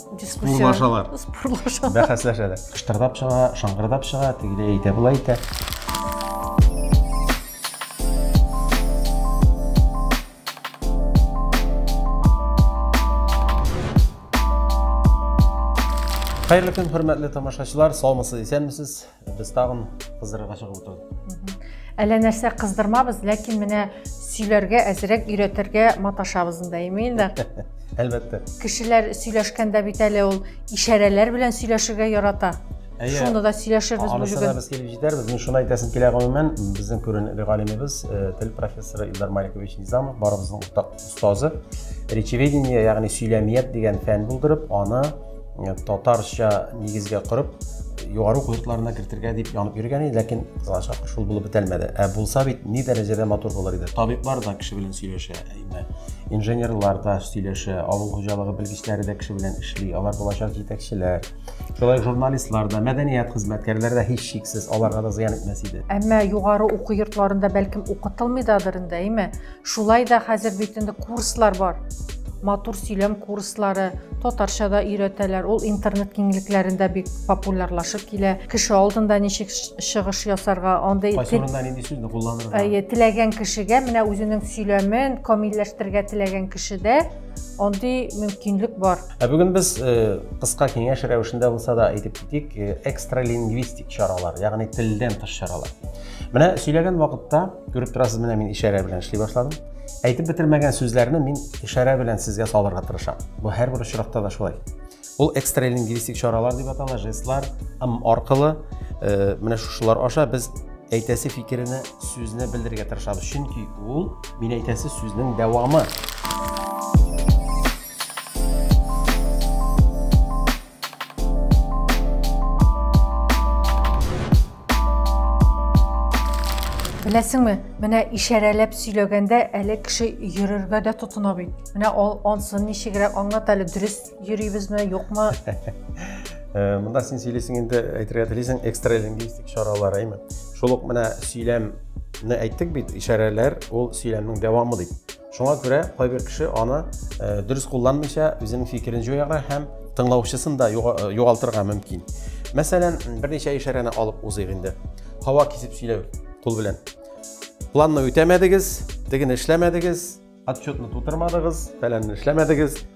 спорлашалар спорлашалар бәхәсләшәләр кыштырдап чыга шыңгырдап чыга тегеләй әйтә болай әйтә Хәерле көн, хөрмәтле тамашачылар, саумысыз, исәнмесез. Без тагын кыздырырга чыгып утырдык. Әллә нәрсә кыздырмабыз, ләкин менә сөйләргә әзрәк өйрәтергә маташабыз инде, әймин дә. Әлбәттә. Кешеләр сөйләшкәндә бит әле ул ишарәләр белән сөйләшергә ярата. Шуны да сөйләшербез бүген. Анысына без килеп җитәрбез. Мин шуны әйтәсем килә гомумән, безнең күренекле галимебез, э, тел профессоры Илдар Маликович Низамов барыбызның уртак Сазы речеведение, ягъни сөйләмият дигән фән булдырып, аны э, татарча нигезгә корып, югары уку йортларына кертергә дип янып йөргән иде, ләкин кызганчак шул булып бетәлмәде. Ә булса бит ни дәрәҗәдә матур булыр иде. Табиблар да кеше белән сөйләшә, әйме. Инженерлар да сөйләшә, авыл хуҗалыгы белгечләре дә кеше белән эшли, алар булачак җитәкчеләр. Шулай журналистлар да, мәдәният хезмәткәрләре дә һич шиксез аларга да зыян итмәс иде. Әмма югары уку йортларында бәлкем укытылмыйдадыр инде, әйме? Шулай да хәзер бит инде курслар бар. Матур сөйләм курслары, татарча да өйрәтәләр. Ул интернет киңлекләрендә бик популярлашып килә. Кеше алдында ничек чыгыш ясарга, андый Кайсы урында нинди сүзне кулланырга? Әйе, теләгән кешегә менә үзенең сөйләмен камилләштерергә теләгән кешедә андый мөмкинлек бар. Ә бүген без э, кыска киңәш рәвешендә булса да әйтеп китик, э, экстралингвистик чаралар, ягъни телдән тыш чаралар. Менә сөйләгән вакытта, күреп торасыз, менә мин ишарә белән эшли башладым. Әйтеп бетермәгән сүзләрне мин ишарә белән сезгә салырга тырышам. Бу һәрбер очракта да шулай. Ул экстра лингвистик чаралар дип атала, жестлар, м аркылы, э, менә шушылар аша без әйтәсе фикеренә сүзне белдерергә тырышабыз чөнки ул мин әйтәсе сүзнең дәвамы Беләсеңме, менә ишарәләп сөйләгәндә әле кеше йөрергә дә тотына бит. Менә ул ансын ничегрәк аңлат әле, дөрес йөрибезме, юкмы? Э, Монда син сөйлисең инде әйтергә телисең экстра лингвистик чаралар, әйме? Шул ук менә сөйләмне әйттек бит, ишарәләр ул сөйләмнең дәвамы дип. Шуңа күрә кайбер кеше аны э, дөрес кулланмыйча үзенең фикерен җуярга һәм тыңлаучысын да э, югалтырга мөмкин. Мәсәлән, берничә ишарәне алып узыйк инде. Һава кисеп сөйләү кул белән. Планны үтәмәдегез, тегене эшләмәдегез, отчетны тутырмадыгыз, фәләнне эшләмәдегез,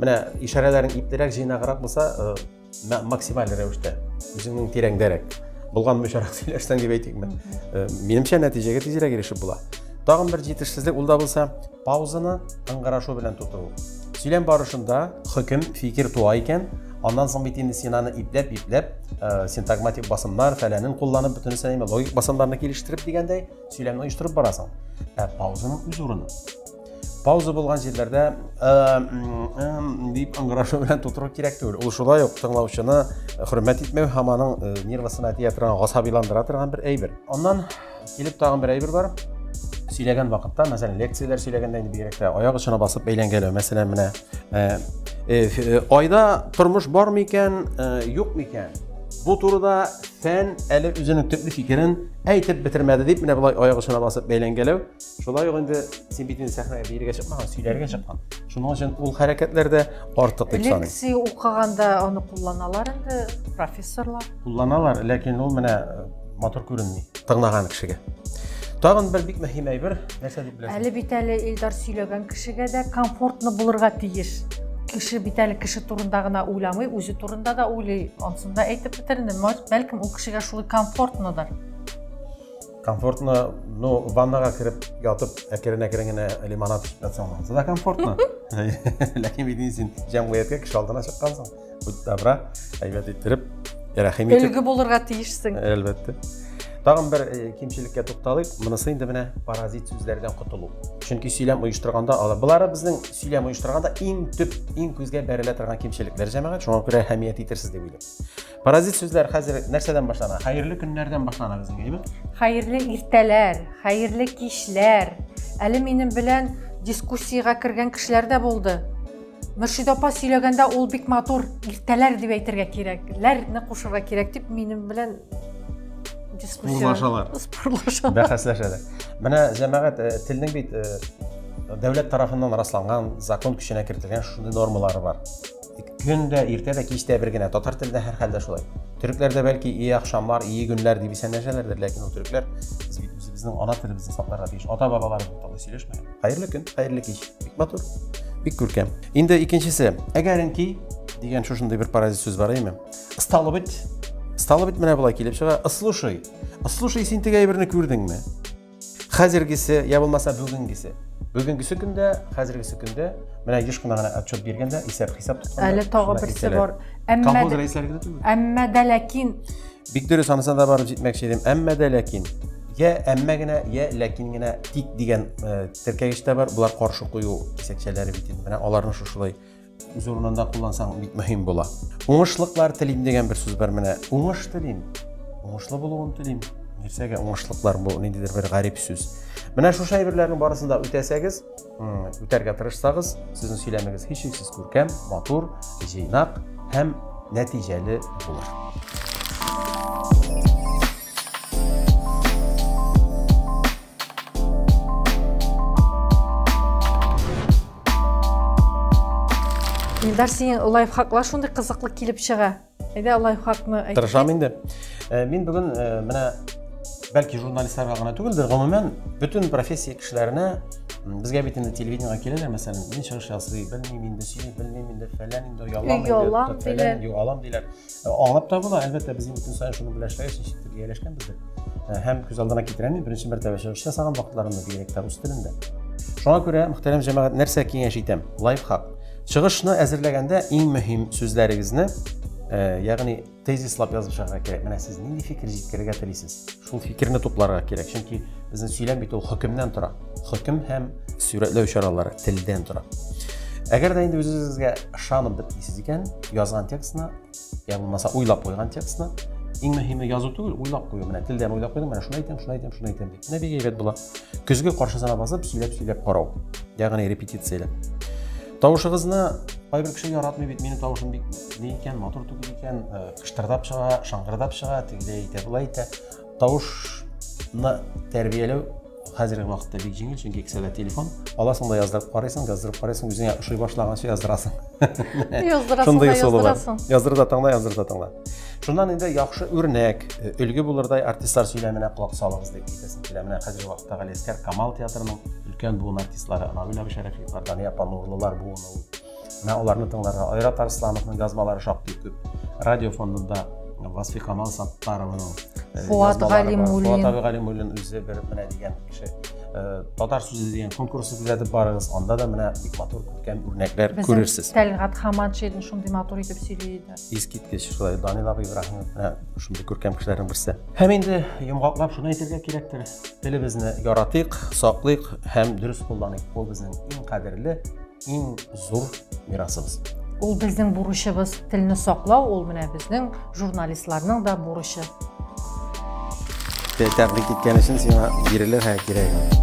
Менә ишарәләрен иплерәк, җыйнаграк булса, э, максималь рәвештә, үзеңнең тирәңдәрәк, булган мөшәрәк сөйләшсәң дип әйтик мен. Э, минемчә нәтиҗәгә тизрәк ирешеп була. Тагын бер җитешсезлек ул да булса, паузаны ыңгырашу белән тоту. Сөйләм барышында хөкем, фикер туа икән, аннан соң бит инде син аны ипләп, ипләп, э, синтагматик басымнар, фәләнен кулланып, бөтенесе логик басымнарны килештереп дигәндәй, сөйләмне оештырып барасың. Ә паузаның үз урыны. пауза булган җирләрдә дип ыңгырашу белән тутыру кирәк түгел ул шулай ук тыңлаучыны хөрмәт итмәү һәм аның нервасына тия торган гасабиландыра торган бер әйбер аннан килеп тагын бер әйбер бар сөйләгән вакытта мәсәлән лекцияләр сөйләгәндә инде бигрәк тә аяк очына басып әйләнгәләү мәсәлән менә айда тормыш бар микән юк микән бу турыда фән әле үзенең төпле фикерен әйтеп бетермәде дип менә болай аяк очына басып бәйләнгәләү Шулай ук инде син бит инде сәхнәгә биергә чыкмаган, сөйләргә чыккан. Шуның өчен ул хәрәкәтләр дә артык дип саныйм. Лекция укыганда аны кулланалар инде профессорлар. Кулланалар, ләкин ул менә э, матур күренми тыңлаган кешегә. Тагын бер бик мөһим әйбер, нәрсә дип беләсең? Әле бит әле Илдар сөйләгән кешегә дә комфортно булырга тиеш. Кеше бит әле кеше турында гына уйламый, үзе турында да уйлый. Ансын да әйтеп бетердем. Бәлкем ул кешегә шулай комфортнодыр. комфортно ну ваннаға кіріп ятып әкірен әкірен генә лимонад ішіп жатсаң онысы да комфортно ләкин бит син жәмгыятькә кеше алдына чыккансың будь добра әйбәт иттереп рәхим итеп өлге булырга тиешсең әлбәттә тагын бер э, кимчелеккә тукталыйк монысы инде менә паразит сүзләрдән котылу чөнки сөйләм оештырганда алар болары безнең сөйләм оештырганда иң төп иң күзгә бәрелә торган кимчелекләр җәмәгать шуңа күрә әһәмият итерсез дип уйлыйм Паразит сүзләр хәзер нәрсәдән башлана? Хәерле көннәрдән башлана безнең, әйме? Хәерле иртәләр, хәерле кичләр. Әле минем белән дискуссиягә кергән кешеләр дә булды. Мөршид апа сөйләгәндә ул бик матур иртәләр дип әйтергә кирәк, ләрне кушырга кирәк дип минем белән дискуссия. Спорлашалар. Спорлашалар. Бәхәсләшәләр. Менә җәмәгать э, телнең бит э, дәүләт тарафыннан расланган закон көченә кертелгән шундый нормалары бар. Көн дә, иртә дә, кич тә бер генә. Татар телендә һәр хәлдә шулай. Төрекләрдә бәлки и ахшамлар, и гөннәр дип исәнләшәләрдер, ләкин ул төрекләр без бит үзебезнең ана телебезне сакларга тиеш. Ата-бабалар турында сөйләшмәгән. Хәерле көн, хәерле кич. Бик матур. Бик күркәм. Инде икенчесе. Әгәренки дигән шушындый бер паразит сүз бар, әйме? Стало быть, стало быть, менә болай килеп чыга. Слушай, слушай, син теге әйберне күрдеңме? хәзергесе я булмаса бүгенгесе бүгенгесе көндә хәзергесе көндә менә еш кына гына отчет биргәндә исәп хисап тотканда әле тагы берсе бар әмма дә ләкин бик дөрес анысына да барып җитмәкче идем әмма дә ләкин я әмма генә я ләкин генә тик дигән теркәгеч тә бар болар каршы кую кисәкчәләре бит инде менә аларны шушылай үз урынында куллансаң бик мөһим була уңышлыклар телим дигән бер сүз бар менә уңыш телим уңышлы булуын телим нәрсәгә уңышлыклар бу ниндидер бер гарип сүз менә шушы әйберләрнең барысын да үтәсәгез үтәргә тырышсагыз сезнең сөйләмегез һичшиксез күркәм матур җыйнак һәм нәтиҗәле булыр Илдар, синең лайфхаклар шундый кызыклы килеп чыга. Әйдә лайфхакны әйт. Тырышам инде. Э, мин бүген э, менә бәлки журналистларга гына түгелдер, гомумән бөтен профессия кешеләренә безгә бит инде телевидениега киләләр, мәсәлән, мин чыгыш ясый, белмим инде, сөйли, белмим инде, фәлән инде, ялам инде, фәлән, юалам диләр. Э, аңлап та була, әлбәттә, без инде көн саен шуны белән эшләгәч, ничектер ияләшкәнбездер. Э, һәм күз алдына китерәм, беренче мәртәбә чыгыш ясаган вакытларымда бигрәк тә рус телендә. Шуңа күрә, мөхтәрәм җәмәгать, нәрсә киңәш итәм? Лайфхак. Чыгышны әзерләгәндә иң мөһим сүзләрегезне, э, ягъни тезислап язышырга кирәк. Менә сез нинди фикер җиткерергә телисез? Шул фикерне тупларга кирәк, чөнки безнең сөйләм бит ул хөкемнән тора. Хөкем һәм сурәтләү чаралары телдән тора. Әгәр дә инде үзегезгә ышанып бер дисез икән, язган текстны, я булмаса уйлап куйган текстны, иң мөһиме язу түгел, уйлап кую. Менә телдән уйлап куйдым, менә шуны әйтәм, шуны әйтәм, шуны әйтәм дип. Менә бик әйбәт була. Көзге каршысына басып, сөйләп-сөйләп карау. Ягъни репетицияләп. Тавышыгызны кайбер кеше яратмый бит, минем тавышым бик ни икән, матур түгел икән, э, кыштырдап чыга, шаңгырдап чыга, тегеләй итә, былай итә. Тавышны тәрбияләү хәзерге вакытта бик җиңел, чөнки кесәдә телефон. Аласың да яздырып карыйсың, яздырып карыйсың, үзеңә ошый башлаганчы яздырасың. Яздырасың да яздырасың. Яздыр да тыңла, яздыр да тыңла. Шуннан инде яхшы үрнәк, э, өлге булырдай артистлар сөйләменә колак салыгыз дип әйтәсез. Килә менә хәзерге вакытта Галиәскәр Камал театрының өлкән буын артистлары Анагүл әбе Шәрәфиевлар, Дания апа Нурлылар буыны ул. Менә аларны тыңларга Айрат Арслановның язмалары шактый күп. Радио фондында Васфи Камал Саттарованың э, Фуат Галимуллин. Фуат абый Галимуллин үзе бер менә дигән кеше. Э, татар сүзе дигән конкурсы күзәтеп барыгыз, анда да менә бик матур күркәм үрнәкләр күрерсез. Тәлгат Хаматшин шундый матур итеп сөйли иде. искиткеч шулай данил абый ибраһимов менә шундый күркәм кешеләрнең берсе һәм инде йомгаклап шуны әйтергә кирәктер телебезне яратыйк саклыйк һәм дөрес кулланыйк ул безнең иң кадерле иң зур мирасыбыз ул безнең бурычыбыз телне саклау ул менә безнең журналистларның да бурычы тәбрик иткән өчен сиңа бирелер һәм кирәге